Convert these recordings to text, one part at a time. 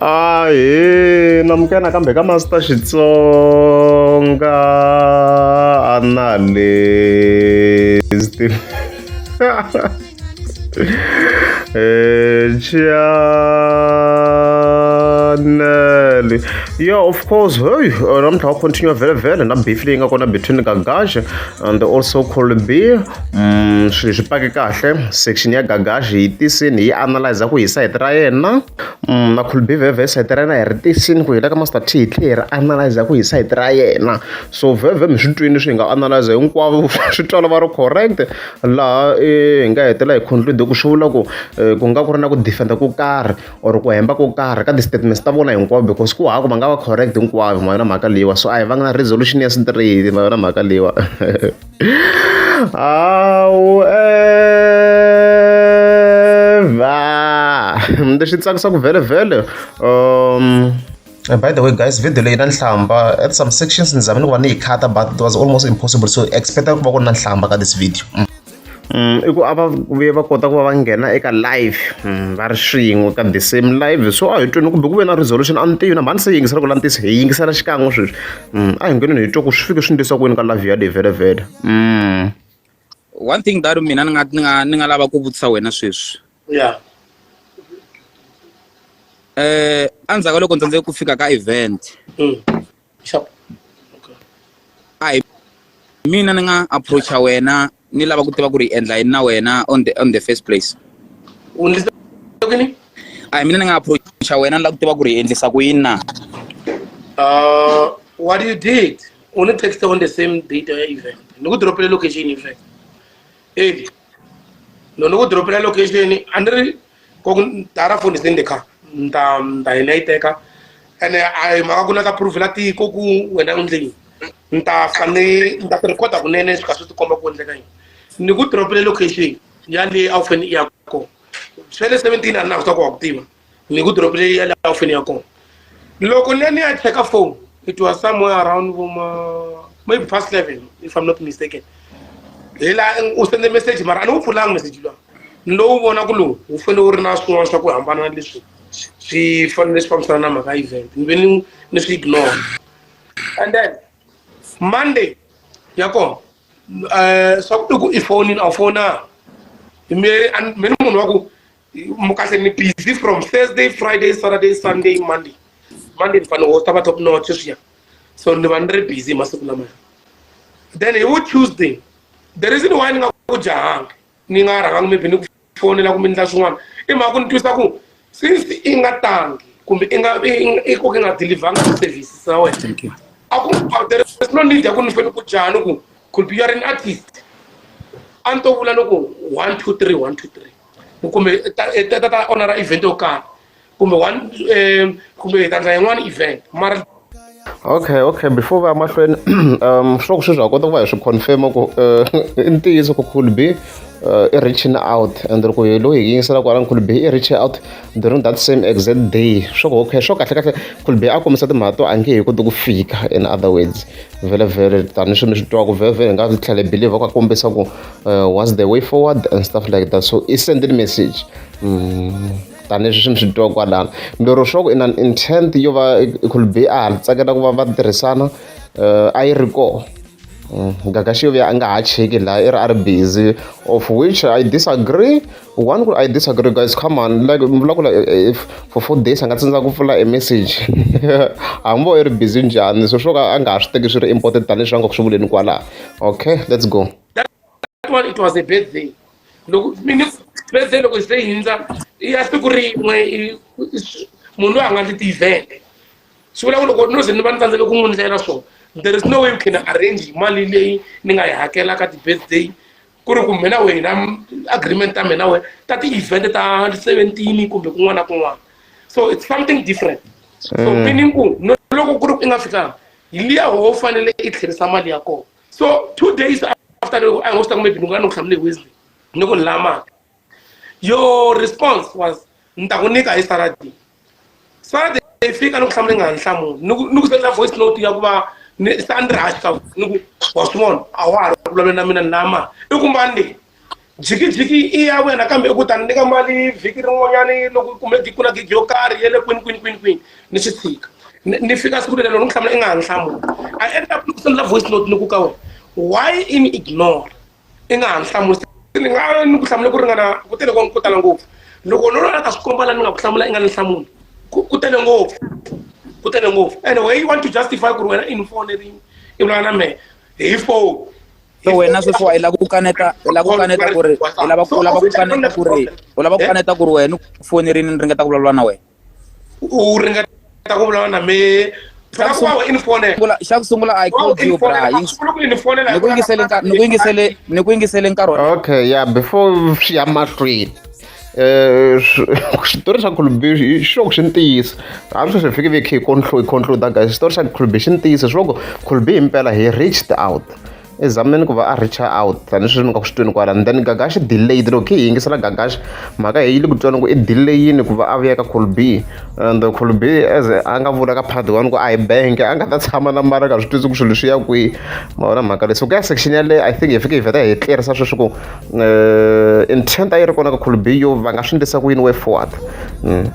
Ahee namukela nakambe ka Master Xitsonga analyst eh chanele yeah of course heyi namuntlha wa continue vhele vhele na beef leyi nga kona between ka Gaxe. and also cold beer um swi swi pake kahle section ya gagashi yi tisini yi analyze ku hi site ra yena um na cold beer veve site ra yena hi ri tisini ku hi le ka master t hi tlhe hi ri analyze ku hi site ra yena so veve mi swi twini swi hi nga analyze hinkwavo swi twala va ri correct laha hi nga hetela hi conclude ku swi vula ku ku nga ku ri na ku defender ku karhi or ku hemba ko karhi ka ti-statements ta vona hinkwawo because ku hava ku va nga va correct hinkwavo ma yona mhaka leyiwa so a hi vanga na resolution ya straight ma yona mhaka leyiwa hawu eva leswi tsakisaka vhele vhele um Uh, by the way guys video leyi na nhlamba at some sections ni zame ni ku va ni yi khata but it was almost impossible so expect ku va ku ri na nhlamba ka this video mm. i ku a va vuye va kota ku va va nghena eka live va ri swin'we ka the same live so a hi twini kumbe ku ve na resolution a ni tivi na mhani se yingisela ku la ni tisi hi yingisela xikan'we sweswi a hi ngheneni hi twa ku swi fike swi ndlisa kwini ka live yaleyi vhelavhela one thing that mina ni nga ni nga ni nga lava ku vutisa wena sweswi ya um endzhaku ka loko ndzi tsandzeke ku fika ka event mm. shop okay a hi mina ni nga approacha wena ni lava ku tiva ku ri endla yini na wena on the on the first place u ndzi ni a hi mina ni nga approacha wena ni lava ku tiva ku ri endlisa ku yini na uh what you did u ni text on the same date ya event ni ku dropele location in fact edi no ni ku dropela location a ni ri ko tara foni se ndi kha nda nda ina iteka ene a yi mhaka ku na ka proof la tiko ku wena u ndleni nta fane nta ti recorda kunene swi ka swi ti komba ku endleka yini ni ku dropile location ya le a wu fane i ya kona swa le seventeen a ni na swa ku wa ku tiva ni ku dropile ya le a wu fane i ya kona loko ni ya ni ya cheka phone it was somewhere around voma maybe past 11 if i'm not mistaken hi la u sende message mara a ni wu pfulanga message lowa ni lowu vona ku lowu wu fanele wu ri na swin'wana swa ku hambana na leswi swi fanele swi fambisana na mhaka event ni ve ni ni swi ignore and then monday ya kona um swa ku i ku i fonini a wu fona me ni munhu wa ku mukase ni busy from thursday friday saturday sunday monday monday ni fanele hosta va top notch swiya so ni va ni ri busy hi masiku lamaya then hi wu tuesday the reason why ni nga ku jahanga ni nga rhangangi maybe ni ku fonela kumbe ni ta swin'wana i mhaka ku ni twisa ku since i nga tangi kumbe i nga i koke nga delivanga service sa wena a ku there is no need ya ku ni fane ku jaha ni ku could be you are an artist a ni to vula ni ku one two three one two three kumbe tata ta onara event yo karhi kumbe one um kumbe hi ta ndla yin'wana event mara okay okay before va ya mahlweni um swa ku sweswi ha kota ku va hi swi confirma ku eh, i ntiyiso ku cool b uh, i reaching out and loko hi loyi hi yingisela kwala nkulu be i reach out during that same exact day swo ku okay swo kahle kahle nkulu be a kombisa timhaka to a nge hi koti ku fika in other words vhele vhele tanihi swi mi swi twaku vhele vhele hi nga tlhele believe ku a kombisa ku uh, what's the way forward and stuff like that so i sendile message mm. tanihileswi swi ni swi twa kwalano mbirhi swa ku in an intent yo va could be a tsakela ku va va tirhisana uh, a yi ri kona ngaka xi yovuya a nga ha cheki laha i ri a ri busy of which i disagree one ku i disagree guys come on like vulavula eh, eh, for four days a nga tsindza ku pfula e message hambi vo i ri busy njhani so swo ka a nga ha swi teki swi ri important tanihileswi a nga ku swi vuleni kwalaha okay let's go that one it was a birthday loko mini birthday loko se hindza i ya siku rin'we munhu loyi a nga ndzi tivhele swi vula ku loko no ze ni va ni tsandzeke ku n'wi ndlela swona there is no way you can arrange mali leyi ni nga yi hakela ka ti-birthday ku ri kumbe na wena agreement ta mina wena ta ti-event ta seventeen kumbe kun'wana na kun'wana so it's something different so mm. meaning ku loko ku ri ku i nga fikanga hi liya ho fanele i tlherisa mali ya kona so two days after a ngo swi ta maybe ni nga ni ku hlamule hi wednesday ni ku ni lava mali your response was ni ta ku nyika hi saturday saturday yi fika ni ku hlamule nga ni hlamuli ni ku sendela voice note ya ku va ni sa ni ri haxa ni ku wa swi vona a wa ha ri vulavula na mina ni lava mali i ku mbani leyi Jikijiki i ya wena kambe u ku ta ni nyika mali vhiki rin'wanyana loko kumbe ku na gigi yo karhi ya le kwini kwini kwini kwini ni swi tshika ni ni fika siku lelelo ni ku hlamula i nga ha ni hlamuli i end up ni ku sendela voice note ni ku ka wena why i ni ignore i nga ha ni hlamuli ni nga ni ku hlamula ku ringana ku tele ko ku tala ngopfu loko no lwana ta swi komba la ni nga ku hlamula i nga ni hlamuli ku ku tele ngopfu ku tele ngopfu and way you want to justify ku ri wena i ni fonerini i vulavula na mehe hi phone se wena sweswiwa i lava ku kaneta i lava ku kaneta ku ri i lava u lava ku kaneta ku ri u lava ku kaneta ku ri wena u fonerini ni ringeta ku vulavula na wena u ringeta ku vulavula na me xa ku sungula i called you bra ni ku yingisele ni ku yingisele ni ku yingisele nkarhi okay yeah before swi ya mahlweni Eh, xitori xa khulubi xi loko xi ni tiyisa a swi swi fike ve khe hi conclude conclude guys xitori xa khulubi xi ni tiyisa swi loko khulubi himpela he reached out i zameni ku va a reacha out tanihi sweswi mi nga ku swi twini kwala and then gagaxi delayed loko khe hi yingisela gagaxi mhaka hi yi le ku twana ku i delayini ku va a vuya ka khulubi and khulubi as a nga vula ka part one ku a hi bank a nga ta tshama na mara ka swi twisi ku swilo swi ya kwihi ma vona mhaka leyi so ku ya section yaleyo i think hi fike hi vheta hi tlerisa sweswi ku uh, intent a yi ri kona ka khulubi yo va nga swi ndlisa ku yini way forward mm.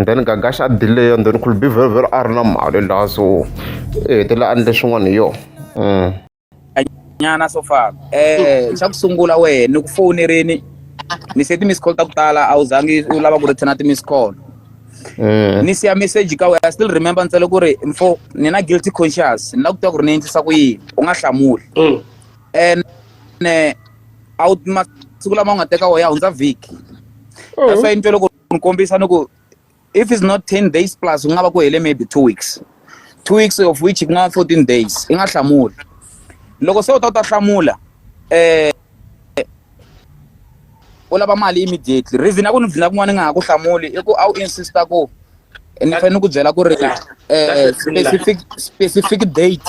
then gagaxa a delay and then khulubi very very a ri na mali laha so i hetelela a ndle swin'wana hi yona mm. nyana so far eh xa ku sungula wehe ni ku fowunerini ni se ti-miss call ta ku tala a wu zangi u lava ku returna ti-miss call eh. ni siya message ka wena still remember ntsele ku ri mfo ni na guilty conscious ni la ku tiva ku ri ni endlisa ku yini u nga hlamuli mm. ene a wu masiku lama u nga teka wo ya hundza vhiki oh. that's why ni twe loko ni kombisa ni ku if it's not ten days plus ku nga va ku hele maybe two weeks two weeks of which ku nga fourteen days i nga hlamuli loko se u ta u ta hlamula um u lava mali immediately reason ya ku ni dlina kun'wana ni nga ha ku hlamuli i ku a wu insista ku ni fanele ni ku byela ku ri um specific specific date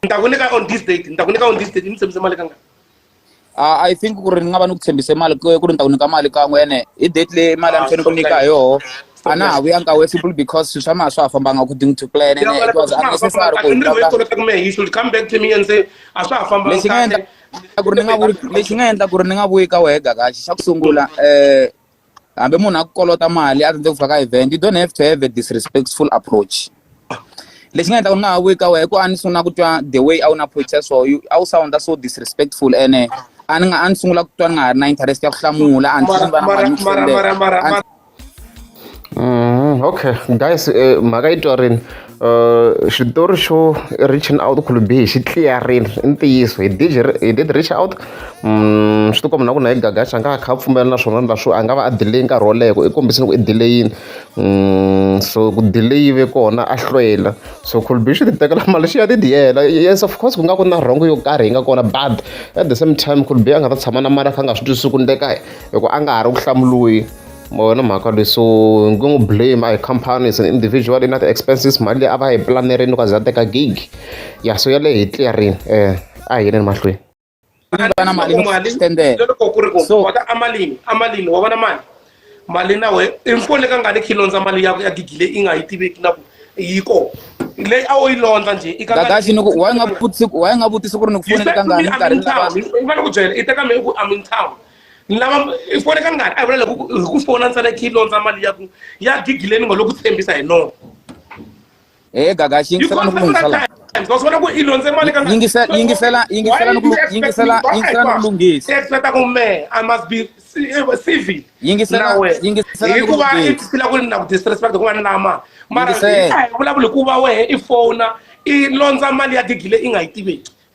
ni ta ku nyika on this date ni ta ku nyika on this date ni tshembise mali ka nga Uh, I think ku ri ni nga va ni ku tshembise mali ku ri ni ta ku nyika mali kan'we ene hi date leyi mali a ni ah, fanele ku nyika hi yoho a na ha vuyanga we simple because swilo swa maha swa ha fambanga according to plan ene it was unnecessary ku lexi nga endla ku ri ni nga vuyi lexi nga endla ku ri ni nga vuyi ka wehe gakaxi xa ku sungula um hambi munhu a ku kolota mali a tsandzeki ku fika ka event you don't have to have a disrespectful approach lexi nga endla ku ni nga ha vuyi ka wena i ku a ni sungula ku twa the way a wu na approach ya so a wu sounda so disrespectful ene a ni nga a ni sungula ku twa ni nga ha ri na interest ya ku hlamula a ni swi va na mali ni tlendela okay guys eh, mhaka yi twarini xitori xo reaching out khulu bihi xi tliyarini i ntiyiso hi did hi did reach out swi ti komba na ku na hi gagaxa a nga kha a pfumela na swona na swo a nga va a delay nkarhi wo leha ku i kombisini ku i delayini so ku delay yi ve kona a hlwela so khulu bihi swi ti tekela mali xi ya ti diyela yes of course ku nga ku na rhongo yo karhi yi nga kona but at the same time khulu bihi a nga ta tshama na mali a kha a nga swi twisisi ku endleka hi ku a nga ha ri ku hlamuriweni vona mhaka leyi so ni nge n'wi blame a hi company is an individual i na ti-expenses mali leyi a va yi planerile loko a ze a teka gig ya so yaleyo hi clearini um a hi yeleni mahlweni na mali loko ku ri ku wata a malini a malini wa vona mali mali na we i mpfone ka ngani khi londza mali ya ya gigi leyi i nga yi tiveki na ku yi ko leyi a wu yi londza njhe i kakaxi ni ku wa nga vutisi wa nga vutisi ku ri ni ku fonele ka ngani nkarhi ni ku byela i teka me i ku i'm in town ni lava i fone ka ngani a hi vula loko hi ku fona ntsena khi londza mali ya ku ya gigile ni ngo lo ku tshembisa hi noko he eh, gaga xi yingisela ni ku lungisela wa swi vona ku i londze mali ka yingisela yingisela yingisela ni ku yingisela yingisela ni ku lunghisa expecta ku me i must be eh, civil yingisela yingisela ni ku lunghisa hikuva i phila ku ni na ku disrespect ku va ni lama mara hi vulavula hikuva wehe i fona i londza mali ya gigile i nga yi tiveki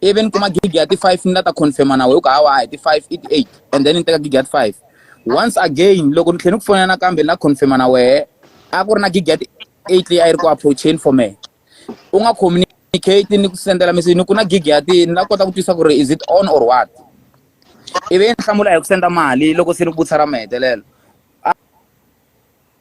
ivi ni kuma gig ya ti-five ni la ta confirma na wehe ku hawa hi ti-five i ti-eight and then ni teka gig ya ti-five once again loko ni tlhela ni ku fonela nakambe ni la confirma na wehe a ku ri na gig ya ti-eight leyi a yi ri ku approacheni for me u nga communicate ni ku sendela message ni ku na gig ya ti ni la kota ku twisa ku ri is it on or what ivi ni hlamula hi ku senda mali loko se ni vutisa ra mahetelelo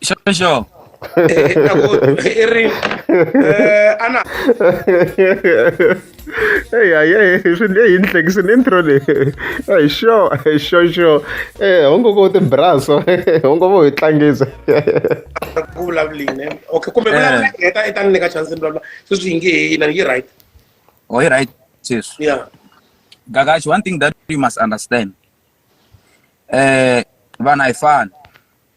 Xo xo. i ri eh, ana eyi hayi eyi swi leyi ni hlekisi ni intro leyi eyi xo xo xo e eh, hongo ko tibraso hongo vo hi tlangisa ku vulavuline okay kumbe eh. vulavula heta i ta ni nyika chance ni vulavula sweswi yi nge heyi na yi right oh yi right sweswi yeah gagashi one thing that you must understand eh vanhu a hi fani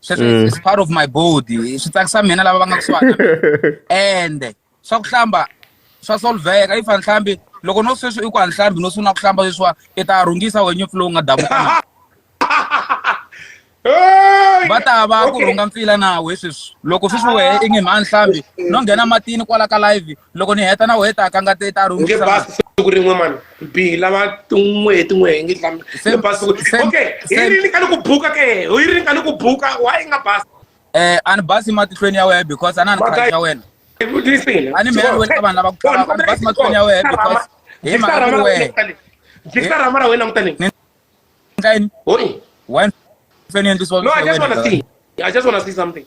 sweswo Mm. it's part of my body swi tsakisa mina lava va nga kusuhana ende swa ku hlamba swa solveka if anhlambi loko no sweswi i ku anhlambi no sungula ku hlamba sweswiwa i ta rhungisa wenye mpfula wu nga davuka na Hey! va ta va ku Okay. rhunga mpfila nawe sweswi loko sweswi wehe i nge mhanhlambi no nghena matini kwala ka live loko ni heta na wena ta ka nga te ta ri nge basi siku rin'we mani bihi lava tin'we hi tin'we hi nge dlami nge basi okay hi ri ni ka ni ku buka ke hi ri ni ka ni ku buka why nga basi eh a ni basi matihlweni ya wena because a na ni khayi ya wena a ni mela wena ka vanhu lava ku tala a ni basi matihlweni ya wena because hi mhaka ku wena jikisa rama ra wena langutani ndlayini wena feni endlisiwa no i just want to see i just want to see something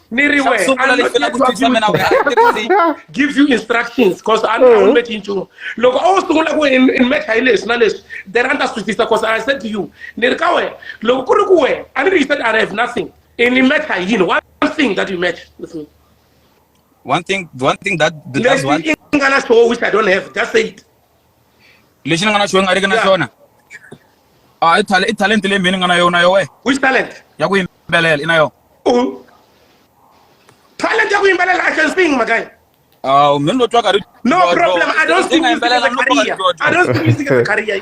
ni ri wehe give you instructions because a ni meki nchumu loko a wu sungula ku in mecha hi leswi na leswi then a ni ta swi twisisa because i said to you ni ri ka wena loko ku ri ku wena a ni ri you said i have nothing in mecha hi yini one thing that you match with me one thing one thing that that's one thing nga na xoho which i don't have just say it lexi ni nga na xona nga riki na xona a ah, i talent i talent leyi mina ni nga na yona yo we which talent ya ku yimbelela i na yona u talent ya ku yimbelela i can sing makaya aw ah, mina lo twa ka ri no problem i don't sing music as a career i don't sing music as a career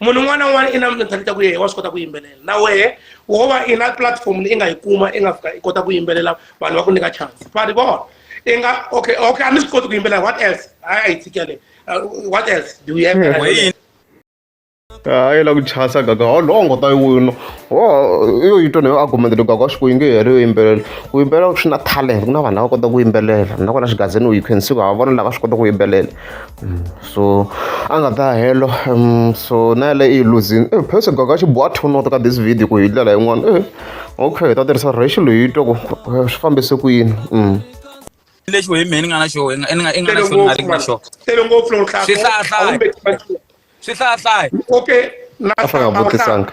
munhu un'wana na un'wana i na mintlhantlho ta ku yehe wa swi kota ku yimbelela na wehe wo va i na platform leyi i nga yi kuma i nga fika i kota ku yimbelela vanhu va ku nyika chance va ri vona i nga okay okay a ni swi koti ku yimbelela what else a yi tshikele uh, what else do you have hmm. a yi la ku chasa gaga holongo ta wino ho yo yi twa nayo argument leyi gaga swi ku yi nge heri yo yimbelela ku yimbelela swi na talent ku na vanhu lava kota ku yimbelela nakona xigazini u yi khensiku hava vona lava swi kota ku yimbelela hmm. so a nga ta helo um so na yaleyo i yi luzini e phese gaga xi boha two note ka this video ku hi ndlela yin'wana e okay hi ta tirhisa racial hi twa ku swi fambise ku yini um lexi wehe mehe ni nga na xo i nga i nga i nga na xo ni nga ri na xo tele ngopfu loko hlaya Swi hlaya, hlaya. swi hlayahlaya okay na a fana nga vutisanga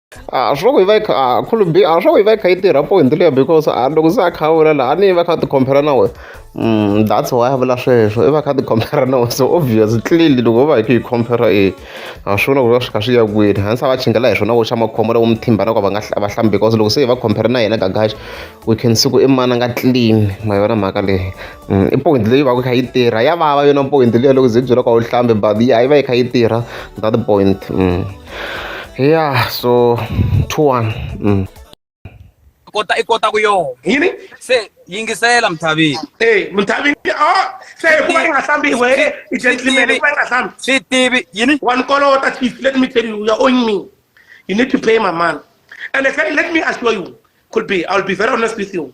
a swi loko yi va yi kha a khulumbi a swi loko yi va yi kha yi tirha point leyo because a loko se a kha a vula laha a ni yi va kha ti compare na wena Mm, that's why a vula sweswo i va kha ti compare na wena so obvious clearly loko va hi ku yi compare e a swi vona ku va swi kha swi ya kwini hansi a va chingela hi swona vo xa makhombo loko muthimba na ku va nga hla- va hlambi because loko se hi va compare na yena gagaxa we can see ku i mana nga clean ma yona mhaka leyi i point leyi va ku kha yi tirha ya vava yona point leyi loko ze byela ka u hlambe but ya yi va yi kha yi tirha that point mm. yeah so two one mm. kota i kota ku yona yini se yingisela mthavini e mthavini o se hikuva yi nga hlambi we i gentleman hikuva yi nga hlambi swi tivi yini wa ni kolota chief let me tell you you are owing me you need to pay my man and I say, let me assure you could be i'll be very honest with you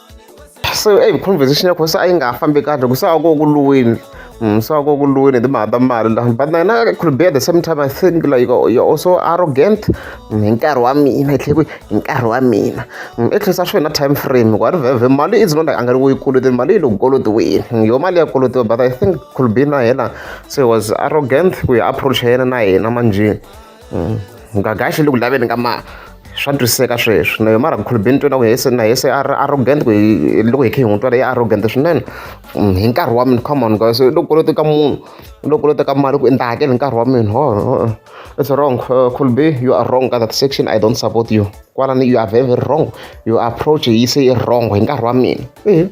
se eyi conversation ya kona se a yi nga ha fambi kahle ku se a ko ku lweni se a ko ku lweni hi timhaka ta mali la but na yena it could be at the same time i think like you're also arrogant hi nkarhi wa mina hi tlhe ku hi nkarhi wa mina i tlhisa swi na time frame ku a ri vhevhe mali is not like a nga ri ku yi koloteni mali yi le ku kolotiweni yo mali ya kolotiwa but i think could be na yena se was arrogant ku ya approach-a yena na yena manjhe mm. ngagaxe le ku laveni ka mali swa twisiseka sweswi na yo mara ku khulubeni twa na ku hese na hese arrogant ku loko hi khe hi n'wi twa leyi arrogant swinene mm, hi nkarhi wa mina come on guys loko kolota ka munhu loko kolota ka mali ku endla hakele nkarhi wa mina ho it's wrong uh, khulubi you are wrong ka that section i don't support you kwalani you are very, very wrong your approach yi se yi wrong hi nkarhi wa mina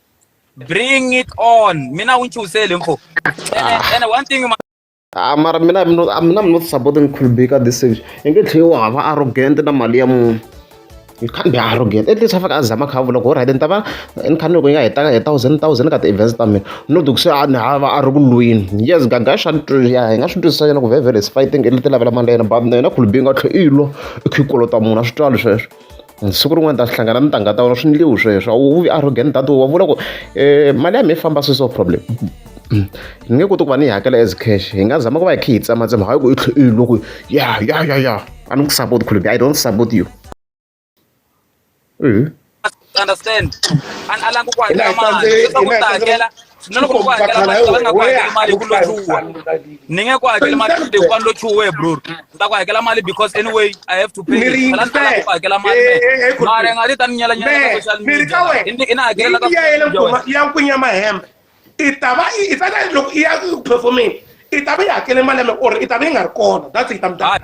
bring it on mina u nchuhisele mfo ah. and one thing ah, mara mina mina i'm not supporting khulubika this stage i nge tlheli wa hava arrogant na mali ya munhu you can't be arrogant at least afaka azama kha vula ku right ni ta va ni kha ni loko yi nga hetaka hi thousand thousand ka ti-events ta mina no ti ku se a ni hava a ri ku lwini yes gaga swa ya hi nga swi twisisa yena ku vevele is fighting i leti lavela mali ya yena but na yena khulubinga tlhe i lo i kha i kolota munhu a swi twali sweswo siku rin'wana ta swi hlangana ni tanga ta wena swi ndliwi sweswo a wu vi arrogant data wa vula ku um mali ya mi yi famba sweswo problem ni nge koti ku va ni yi hakela as cash hi nga zama ku va hi khe hi tsematsema hayi ku i tlhe i loko ya ya ya ya a ni ku support khulubi i don't support you understand a ni alangi ku hakela mali leswaku ni ta hakela na loko u hakela mali nga ku hakela mali ku lo chuwa ni nge ku hakela mali de ku lo chuwe bro ni ta ku hakela mali because anyway i have to pay la ta ku hakela mali eh, eh, eh, mara nga ti ta ni nyela nyela social media ni ina hakela ka ya yele kuma ya ku nyama hembe i ta va i ta loko i ya ku performing i ta va yi hakele mali ya me or i ta va yi nga ri kona that's it i'm done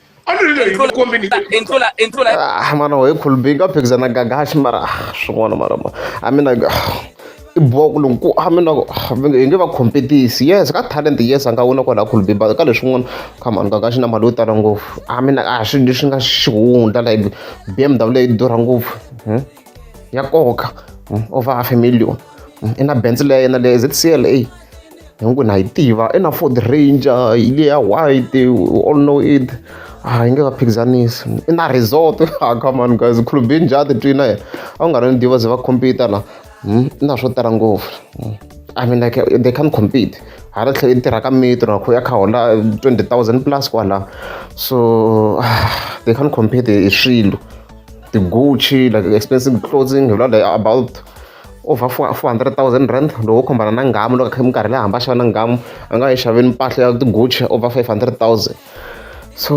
Ah, mana wee kul big up exana gagash mara swin'wana mara ma a mina i boko loko a mina hi nge va competisi yes ka talent yes a nga wina kwalaha kul big but ka leswin'wana come on gagash na mali yo tala ngopfu a mina a swi leswi nga xihundla like bmw leyi durha ngopfu hmm? ya koka hmm? over half a million hmm? i na benz leya yena leya zcla hi ku na yi tiva i na ford ranger yi le ya white we all know it a ah, yi nge va phikizanisi i na resort a ah, come on guys khulubini njhati twi na yena a wu nga ri ni diva ze va compete la hmm, i na swo tala ngopfu hmm. i mean like they can't compete hala tlhela yi tirha ka mitro nakho ya kha hola 20000 plus kwala so ah, they can't compete hi swilo ti-gucci like expensive clothing hi vula like about over four four hundred thousand rand loko wo khombana na ngamu loko kha minkarhi leyi hamba xava na ngamu a nga yi xaveni mpahla ya tiguchi over five hundred thousand so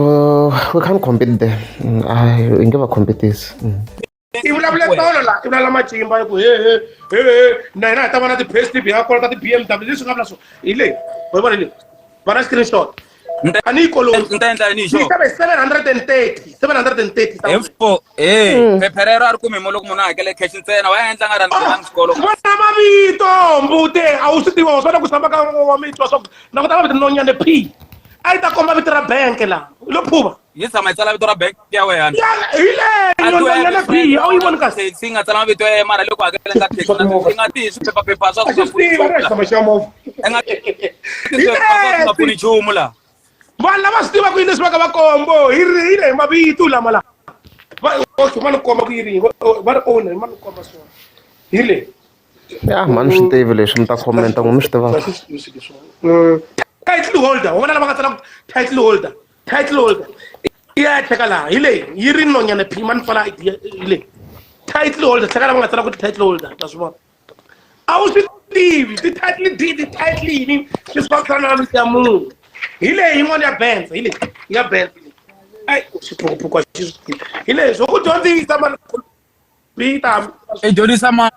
we can't compete there mm, hi nge va competisi mm. i vulavule tolo la i vulavula matimba ku he he he he na hina hi ta va na ti-pastib hi nga kolota ti-b m w leswi nga vula swo hi leyi hi vona leyi va na screenshot tanihi koloyi ni ta endla yini xo xave 730 730 info eh hmm. phephe rero a ri kumi mo loko munhu a hakele cash ntsena wa endla nga rhandzi nga xikolo vona mavito mbute a wu swi tiva wa swana ku samba ka wa mitwa swa ku na ku ta mavito nonyane p a yi ta komba vito ra bank la lo phuva yi tshama yi tsala vito ra bank ya wena hi leyo bihi a wu yi voni kasi yi nga tsala mavito ya mara loko hakela nga taxi yi nga tihi swiphephaphepha swa nga pfuni nchumu laha vanhu lava swi tivaka yini leswi va ka va kombo hi rihile hi mavito lama laha okay va ni komba ku yini va ri owner va ni komba swona hi le ya mhani swi tivi leswi mi ta commenta n'wi mi swi tivaka mm. title holder wa vona lava nga tsala title holder title holder i ya tlheka laha hi leyi yi ri nonyana phima ni pfala id hi leyi title holder tlheka lava nga tsala ku ti title holder ta swi vona a wu swi tivi ti-title d ti-title yini swi swi fambisana na miti ya munhu hi leyi yin'wana ya benza hi leyi ya benza ayi xiphukuphuku xi swi tivi hi leyi swo ku dyondzisa mani i dyondzisa mani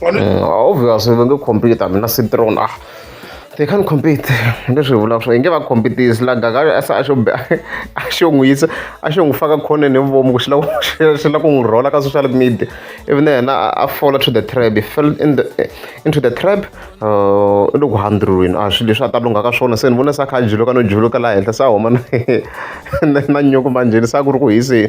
Mm, obviously va nge compete hambi na citron ah they can't compete leswi hi vulaka swo hi nge va competisi la gagari a se a xo a xo n'wi yisa a xo n'wi faka khoneni hi vuvomi ku xi lava xi lava ku n'wi rhola ka social media ivi na yena a fola to the trap he fell in the into the trap uh, i loko handrulwini a ah, swilo leswi a ta lunghaka swona se ni vona se a kha a juluka no juluka laha henhla se a huma na nyoko manjheni se a ku ri ku hiseni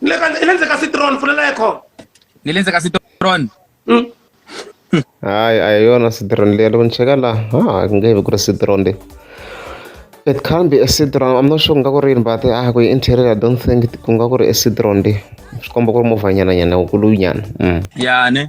Ni le ka ni le ndzeni ka citron pfulela ekho. Ni le ndzeni ka citron. Mm. hayi a hi yona citron leyi loko ni cheka la ha ku nge vi ku ri citron leyi it can be a citron i'm not sure ku nga ku ri yini but ah ku yi interior i don't think ku nga ku ri a citron leyi swi komba ku ri movhanyana nyana wukulunyana mm. ya ne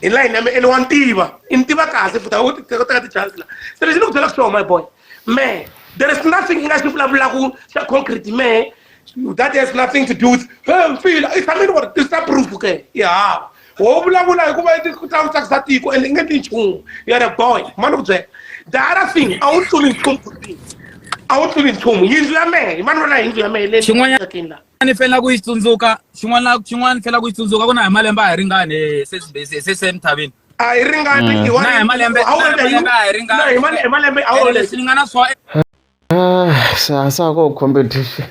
hi layini ya me ene wa ni tiva i ni tiva kahle futa u teka teka ti-chance la se lexi ni ku byelaka xona my boy me there is nothing i nga xi vulavulaku xa concrete me that has nothing to do with hey mfila i tshame ni ku ri tisa proof ke i hava wo vulavula hikuva i ku ta ku tsakisa tiko and i nge ti nchumu you are a boy ma ni ku byela the other thing a wu tluli nchumu a wu tluli nchumu yindlu ya mehe mani vona yindlu ya mehe leyi xin'wanyana ni fanela ku yi tsundzuka xin'wana xin'wana ni fanela ku yi tsundzuka ku na hi malembe a hi ringani se se emisaveni a hi ringani mm. na hi malembe a hi ringani hi malembe a wu leswi ni nga na swo sasa ko competition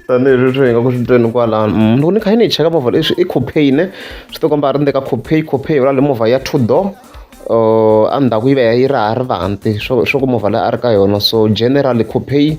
tanihileswi swi hi nga ku swi tweni kwalano mm, loko ni kha yi ni cheka movha leswi i copay ne swi ti komba a ri ndeka copay copay yola le movha ya two door uh, endzhaku yi va yi ri ha ri vanti swo ku movha leyi a ri ka yona so generally copay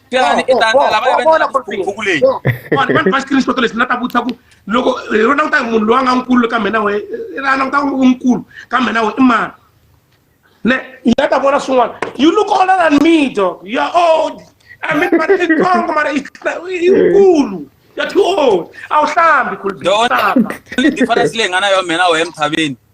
Xana i ta lava ya vona khukhu leyi vanhu vanhu va screenshot lexi na ta vutisa ku loko hi rona kutani munhu loyi a nga nkulu ka mina we a languta ku u nkulu ka mina we i mani ne yi nga ta vona swin'wana you look older than me dog you are old i mean but i tsongo mara i nkulu you're too old a wu hlambi khulu difference leyi nga na yo mina we emthaveni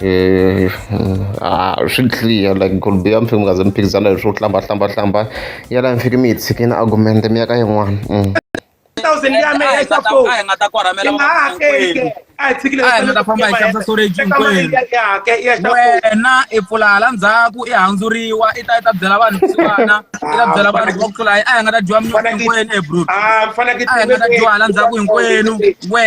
Eh, ah, swi clear like golbe ya mi fike mi nga ze mi phikizana hi swo hlamba hlamba hlamba ya laha mi fike mi yi tshikini argumente mi ya ka yin'wana mm. thousand ya me ya sa fo nga ta kwaramela ma hakeli a hi tshikile a hi ta famba hi xavisa storage hinkwerhu wena i pfula hala ndzhaku i handzuriwa i ta i ta byela vanhu kusuwana i ta byela vanhu va ku tlula a hi nga ta dyiwa mnyuku hinkwenu e bro a hi nga ta dyiwa hala ndzhaku hinkwenu we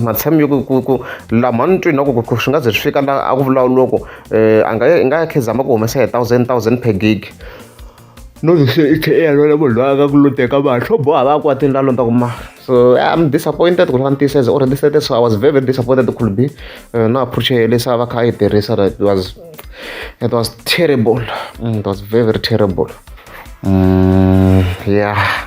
matshami yo ku ku lama ni twini loko swi nga ze swi fika la a ku vulavuloko um eh, a nga i nga ya khezama ku humesa hi thousand thousand per gig no se i tlhe i ya lwela munhu loyi a nga ku loteka vanhu swo boha va kwatini la londza ku ma so i'm disappointed ku ri va ni tiyiseza or ni sete so i was very very disappointed could be uh, no approach ya lesa va kha a yi tirhisa it was it was terrible mm, it was very very terrible mm, yeah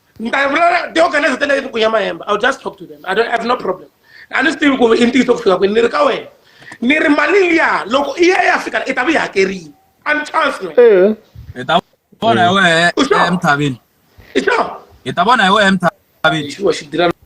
they organize tena yi ku ya mahemba i'll just talk to them i don't I have no problem a ni swi tivi ku i ntiyiso ku fika kwini ni ri ka wena ni ri mali liya loko i ya ya fika i ta va yi hakerile a ni chance na eh. hi ta vona hi wehe emthavini i sure hi ta vona hi wehe emthavini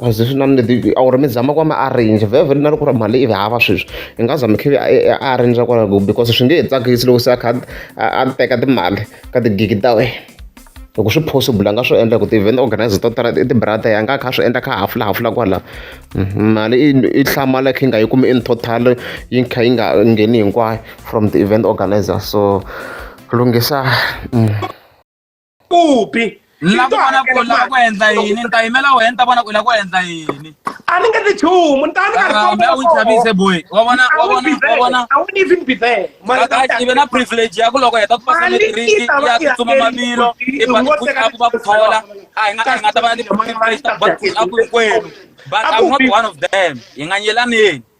A zwi na or mi zama ku va mi arrange vhevhe na loko ku ri mali i hava sweswi i nga za mi kha mi arrange kwalaho because swi nge he tsakisi loko se a kha a a teka timali ka tigigi ta wena loko swi possible a nga swi endla hi ku ti-event organiser to tala i ti-brother a nga a kha a swi endla a kha a hafulahafula kwala mali i i hlamala i kha i nga yi kumi in total yi kha yi nga ngheni hinkwayo from ti-event organiser so lunghisa. kupi la ku vona ku la ku endla yini ni ta yimela wena ni ta vona ku la ku endla yini a ni nge ti chumu ni ta ni karhi kambe u chavise boy wa vona wa vona wa vona a wu ni even be there mara ka i ve na privilege ya ku loko heta ku pasa matriki ya tsutsuma mavilo i ba ku a ku va ku thola a hi nga a hi nga ta va ni privilege ta ku a ku kwenu but i'm not one of them hi nga nyelaneni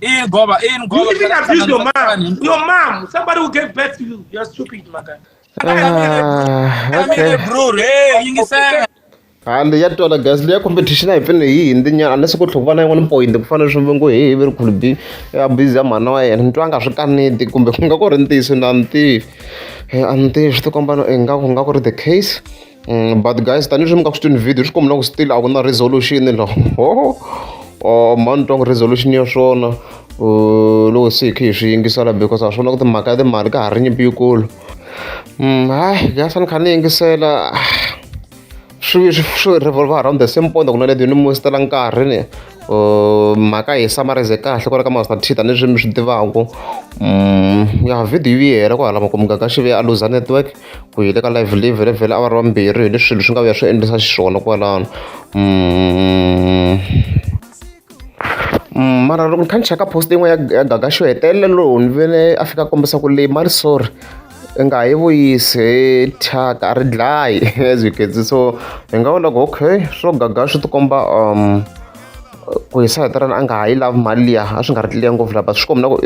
In Goba, in Goba. You even abuse your mom. Your mom. Somebody who gave birth to you. You're stupid, my guy. Ah, okay. Bro, hey, you say. hande ya twala gas leya competition a hi pfene hi hindi nyana unless ku tlhova na yin'wana point ku fanele swi vongo hehe ve ri khulu bi ya busy ya mhana wa yena ni twa nga swi kaneti kumbe ku nga ku ri ntiyiso na ni tivi a ni tivi swi ti komba no ingaku nga ku ri the case Mm, but guys tanihileswi mi ka swi twini video swi kombela ku still a ku na resolution lo ho oh, mani twa ku resolution ya swona uh, loko se hi khe hi swi yingisela because a swi vona ku timhaka ya timali ka ha ri nyimpi yikulu mm, hayi guys a ni kha ni yingisela swi swi revolve around the same point ku na leti ni mu sitela nkarhi ni uh, mhaka hi summarize kahle ku ri ka master t tanihileswi mi swi tivaku mm, ya video yi hela ku hala makumukaka xive a luza network ku hi le ka live live le vhele awara vambirhi hi leswi swilo swi nga vuya swi endlisa xiswona kwalano mm. mm, mara loko ni kha ni cheka post yin'we ya ya gaga xo hetelela lowu ni vele a fika kombisa ku leyi mali sorry i nga yi vuyisi thyaka a ri dlayi as you can see so hi nga vona ku okay swo gaga swi tikomba um ku hi sahetelana a nga ha yi lavi mali liya a swi nga ri liya ngopfu lava swi kombi na ku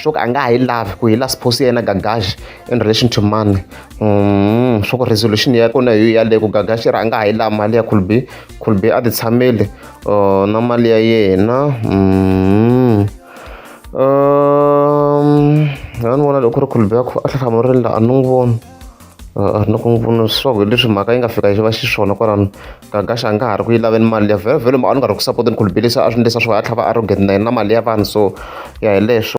swo ka a nga ha yi lavi ku hi la supposed yena gagaxi in relation to money mm, swa ku resolution ya kona yo yaleyo ku gagaxira a nga ha yi laha mali ya khulbi khulbi a ti tshameli uh, na mali ya yena mm. um, a ni vona loko ri khulbi a tlhahlamurile la a ni n'wi voni a ri na ku n'wi pfuna leswaku leswi mhaka yi nga fika yi va xiswona kwalano gagaxa a nga ha ri ku yi laveni mali ya vhelovhelo ma a ni nga ri ku sapoteni ku lubelisa a swi ndlisa swo a tlhava arrogant na yena na mali ya vanhu so ya hi leswo